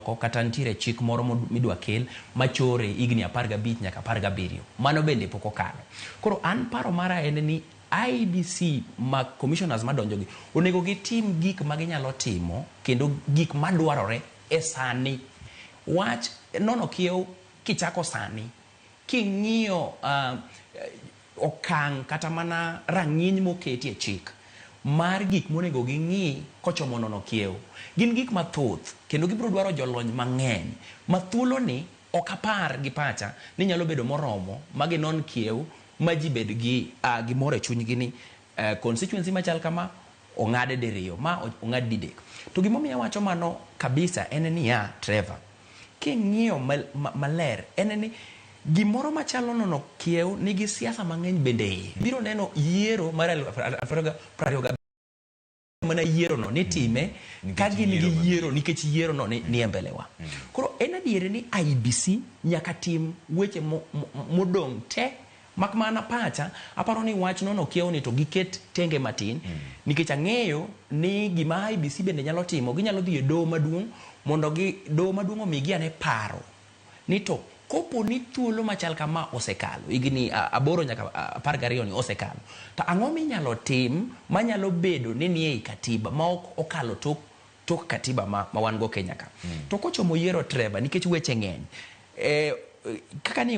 moko kata nitiere chik moro midwa kel machore higni apar gabich nyaka apar gabiriyo, mano bende pok okalo. Koro an paro mara en ni IEBC ma Commissioners madonjogi onego gitim gik ma ginyalo timo kendo gik madwarore e sani. Wach nono kiewo kichako sani king'iyo okang' kata mana rang'iny moketi e chik mar gik monego ging'i kochomo nono kiewo. Gin gik mathoth kendo gibiro dwaro jolony mang'eny ma thuoloni ok apar gi pacha ni nyalo bedo moromo ma ginon kiewo ma ji bed gi gimoro e chunygi ni constituency machal kama Ong'ade diriyo, ma ong'ad didek. To gima omiyo awacho mano kabisa en niya, Trevor, king'iyo maler en ni gimoro machalo nono kiew nigi siasa mang'eny bende iye. Ibiro neno yiero mar aluf ariyo prariyo gabiriyo mana yierono nitime mm. ka gin gi yiero nikech yierono ni mm. e mbelewa. Mm. Koro en adier ni IBC nyaka tim weche modong' te Mak mana pacha, aparo ni wach nono okia oneto giket tenge matin nikech ang'eyo ni gima IEBC bende nyalo timo, ginyalo dhi e doho maduong' mondo gi doho maduong' omigi ane paro ni to kopo ni thuolo machal kama osekalo, higni a, aboro nyaka a, apar gariyo ni osekalo, to ang'o minyalo tim manyalo bedo ni nie i Katiba ma ok okalo tok, tok Katiba ma, ma wan go Kenya ka. To kochomo yiero Trevor, nikech weche ng'eny, eh, kaka ni